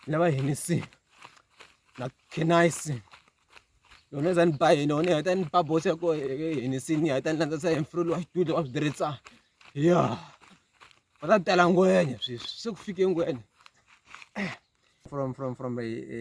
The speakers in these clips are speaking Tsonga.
na va Hennessy na Kenice yona za ni ba yini yona ya ta ni ba boss ya ko Hennessy ni ya ta ni landza sa emfrelo wa xitulo wa switirhitsa ya va ta tela ngwenya sweswi se ku fike ngwenya from from from a, a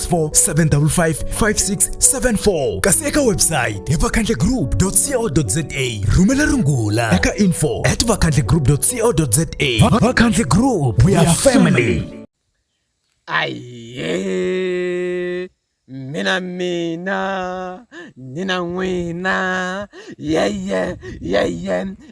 0754567674 kasi eka website hi vakhandlegroup.co.za rhumela rungula eka info at vakhandlegroup.co.za vakhandle group we are family aye mina mina nina n'wina yeye yeye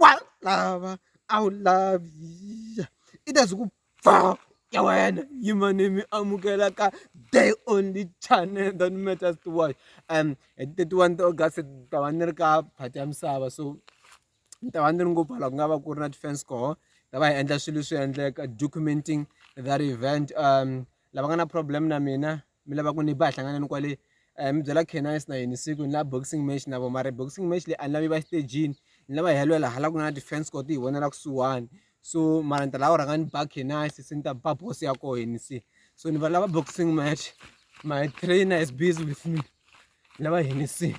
wa lava a wu lavi i ta swi ku ba ya wena yima ni mi amukela ka the only channel that matters to watch and hi ti thirty one ta August ni ta va ni ri ka phati ya misava so ni ta va ni ri ngopfu hala ku nga va ku ri na ti-fans koho hi ta va hi endla swilo leswi endleka documenting that event lava nga na problem na mina. mi lava ku ni ba hi hlangana ni kwale um mi byela canines na yini siku ni la boxing match na vo mara boxing match leyi a ni lavi va xitejini ni lava hi yalwela hala ku na defense court hi vonela kusuhani so mara ni ta lava rhanga ni ba canines se ni ta ba boss ya koho yini se so ni va lava boxing match my trainer is busy with me ni lava yini se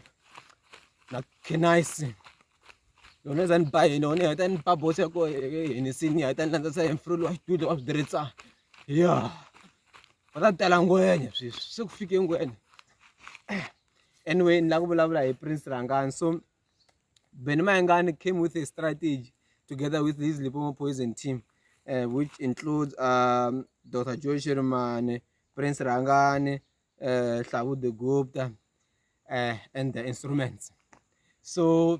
na canines yona za ni ba yini yona yi heta ni ba boss ya koho yini se ni heta ni landzisa hi mfurulu wa xitulu wa swi tirhisa ya va ta tela ngwenya sweswi se ku fike ngwenya anyway ni lava ku vulavula hi prince rangani so beni mayengani came with a strategy together with his lipomo poison team uh, which includes um, dr joe shirimane prince rangani uh, eh, hlavu the gupta uh, and the instruments so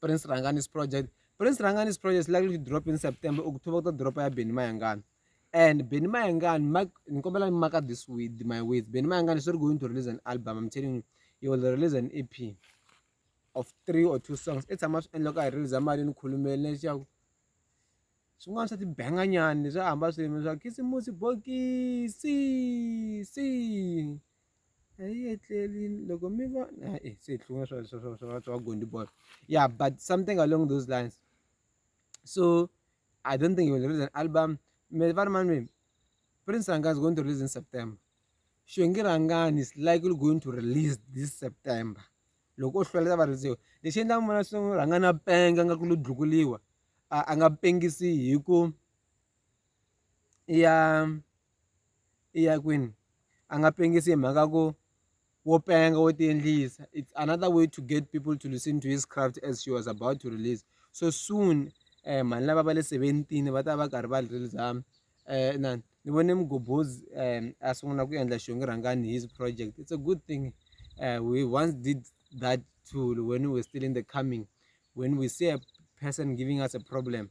Prince Rhangani's project Prince Rhangani's project is likely to drop in September October ku ta dropa ya Benny Mayengani and Benny Mayengani Mike ni kombela mi maka this with my with Benny Mayengani is not going to release an album I'm telling you he will release an EP of three or two songs i tshama swi endla ka hi release mali ni khulumeli leswaku swin'wana swa tibanganyani swa hamba swin'we swa khisimusi bokisi si a yi etleli loko mi va e se hi hlunga swa swa swa swa swa gondi ball yeah but something along those lines so i don't think he will release an album me va ri mani prince ranga is going to release in september xongi rangani is likely going to release this september loko o hlwela ta va risiwa lexi endlaka mona swi rhanga na penga nga ku lo dlukuriwa a nga pengisi hi ku ya i ya kwini a nga pengisi hi mhaka ya ku wo penga wo ti endlisa it's another way to get people to listen to his craft as she was about to release so soon um mhani lava va le seventeen va ta va karhi va release um na ni vone mugobhozi um a sungula ku endla xongi rhangani his project it's a good thing uh, we once did that tool when we were still in the coming when we see a person giving us a problem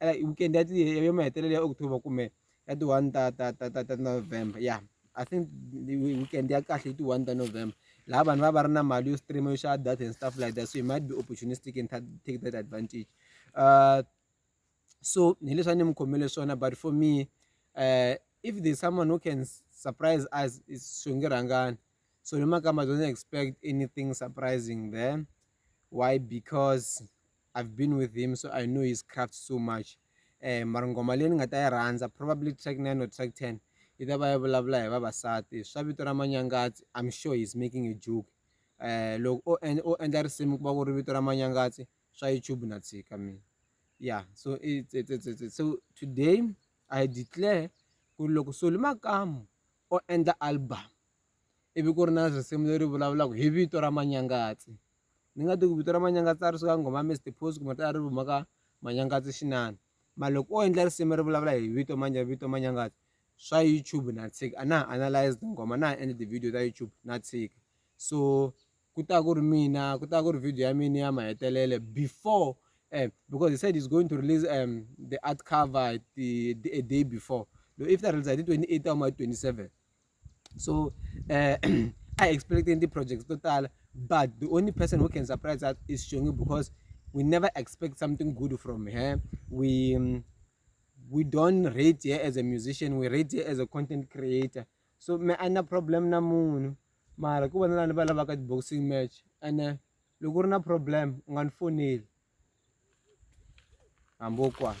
like weekend ya ti ya mahetelelo ya October kumbe ya ti one ta ta ta ta ta November ya I think weekend ya kahle ti one ta November laha vanhu va va ri na mali yo stream yo xava data and stuff like that so you might be opportunistic and take that advantage uh, so hi leswi a ni mi khomele swona but for me uh, if there's someone who can surprise us swi nge rhangani so ni makamba don't expect anything surprising there why because I've been with him so I know his craft so much eh mara ngoma leyi ni nga ta yi rhandza probably track 9 or track 10 yi ta va yi vulavula hi vavasati swa vito ra manyangatsi I'm sure he's making a joke eh loko o endla o endla risimu ku va ku ri vito ra manyangatsi swa YouTube na tshika mina yeah so it's, it's, it's, it's, so today I declare ku loko Soli Makamu o endla album ivi ku ri na risimu leri vulavulaka hi vito ra Manyangatsi ni nga tiku vito ra Manyangatsi a ri suka nghoma Mister Phozi kumbe a ri huma ka Manyangatsi xinani mara loko o endla risimu ri vulavula hi vito manje vito Manyangatsi swa YouTube na tshika a na ha analyze tinghoma na ha endli ti-video ta YouTube na tshika so ku ta ku ri mina ku ta ku ri video ya mina ya mahetelelo before um because he said he's going to release um the art cover the a day before if ta release hi ti-twenty eight ta huma hi twenty seven. so I expecting the projects to tala but the only person who can surprise us is Shongi because we never expect something good from her we um, we don't rate her as a musician we rate her as a content creator so me a na problem na munhu mara ku vona lani va lavaka ti-boxing match ene eh, loko u ri na problem u nga ni foneli hambi wo kwana